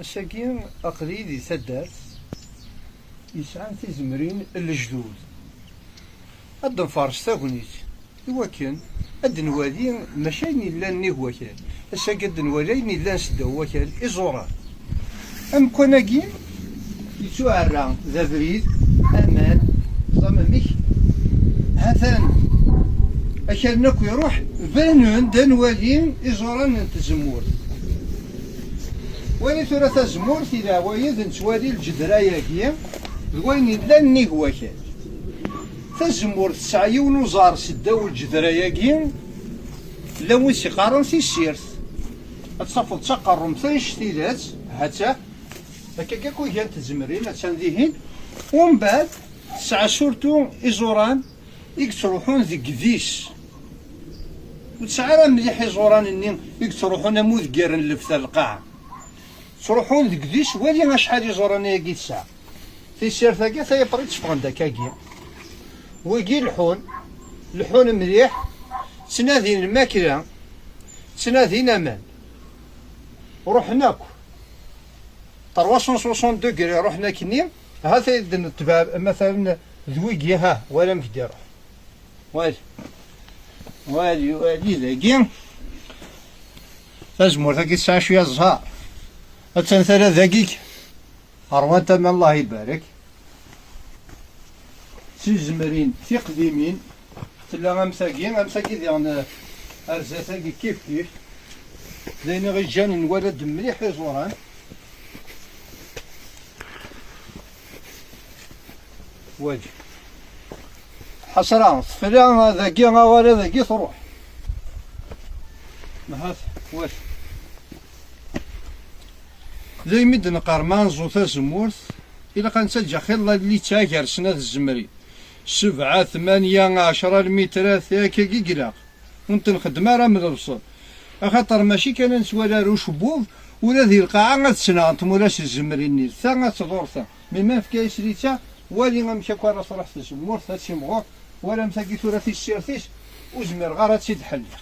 Ass-agi aql-iyi di taddart yesɛan tizemrin n lejdud. Ad d-nfer s tagnit i wakken ad d-nwali maca ayen yellan nnig wakal. Ass-agi ad d-nwali ayen yellan seddaw wakal, iẓuran. Amekkan-agi Yettuɛerra d abrid aman d amamek ha-t-an akalen akk iruḥ banen-d ad nwali iẓuran n tzemmurt wali tura tazemmurt i leɛwayed nettwali lǧedra-agi d wayen yellan nnig wakal tazemmurt tesɛa yiwen uẓar s ddaw lǧedra-agi llan wis iqqaren tissirt ad tafeḍ d taqerrumt anect tidet ha-tt-a Akka akka ku gan tzemrin a tsan dihin. Umbad tesɛa surtu iẓuran i yettruḥun deg idis. Ur tesɛa ara mliḥ iẓuran-nni i yettruḥun am udeggiren n lefta lqaɛa. Ttruḥun deg idis wali acḥal iẓuran-agi tesɛa. Tissirt-agi tayaprit tteffɣen-d akkagi. Wigi leḥḥun, leḥḥun mliḥ, ttnadin lmakla, ttnadin aman. Ruḥen akk. 362 gri ruḥen akkenni hata id netbab matalen d wigi ha wala amek d-iruḥ wali wali wali dagi tazmurt agi tesɛa cwiya ẓha attan tala dagi Ṛwan tama Allah ibarek. Tizemrin tiqdimin tella am tagi, am tagi diɣen ar zdat-agi kif kif. D ayen iɣiǧǧan nwala-d mliḥ iẓuran. Wagi. Ḥasra, tefla dagi aɣara dagi truḥ. Mahat, wagi. D ayen mi d-neqqar ma anẓu tazemmurt, ilaq ad nettaǧǧa xilla llitta gar snat tzemri, sebɛa, tmanya, ɛecra, lmitrat, akkagi i ilaq, ur ntenxeddem ara am lebṣel, axaṭer mačči kan ad nettwali ar ucebbub, ula di lqaɛa ad ttnaɣen tmura s tzemrin-nni, d ta ad tḍur ta, mi ma nefka-yas litta, wali amek akk ara truḥ tzemmurt, ad timɣur, walam tagi tura tissirt-is, ur zmireɣ ara ad tt-id-ḥelliɣ.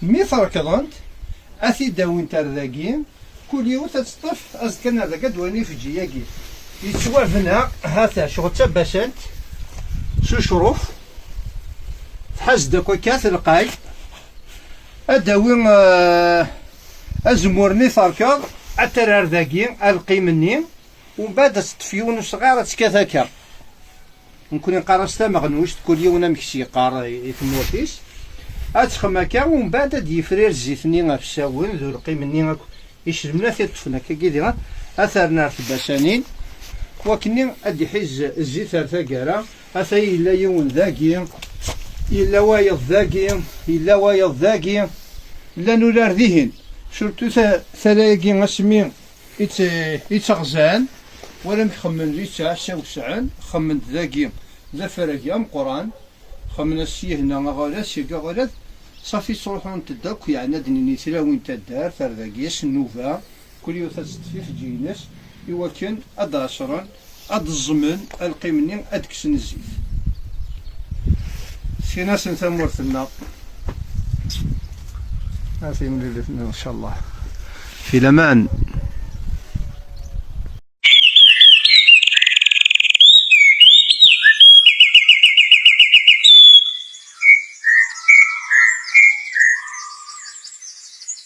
Mi t-rekḍent, ad t-id-awint ar dagi, kul yiwet ad tt-ṭṭef, azekka n ar dagi ad d-walin ifeǧǧi-yagi. Yettwabna ha-t-a ccɣel d tabasant s ucruf, tḥaz-d akk akka telqay, ad d-tawi azemmur-nni terkeḍ, ad t-terr ar dagi, alqim-nni, umbeɛd ad tt-ṭṭef yiwen usɣar ad tt-kkat akka. Nekkni nqarras tameɣnujt, kul yiwen amek s-yeqqar i tmurt-is. Ad texxem akka, umbeɛd ad d-yefrir zzit-nni afsawen d urqim-nni akk icedmen ad t-iṭṭfen akkagi diɣen ad t-rren ar tbasanin, wakkenni ad d-iḥiz zzit ar taggara. Atay yella yiwen dagi, yella wayeḍ dagi, yella wayeḍ dagi, llan urar dihin, surtout tala-agi asmi Ittaɣzan, wala amek xemmen d ittɛassa wesɛen, xemmen-d dagi d afarag ameqqran, xemmen ad s-yehna aɣalas, seg aɣalad safi ttruḥunt-d akk yeɛni ad d-nini tlawin taddart ar dagi s nnuba, kul yiwet ad teṭṭef ifeǧǧiy-ines iwakken ad d-ɛeṣren ad d-ẓẓmen alqim-nni, ad d-kksen zzit. Skin-asen tamurt-nneɣ. A timlilit-nneɣ, incallah. Fi laman.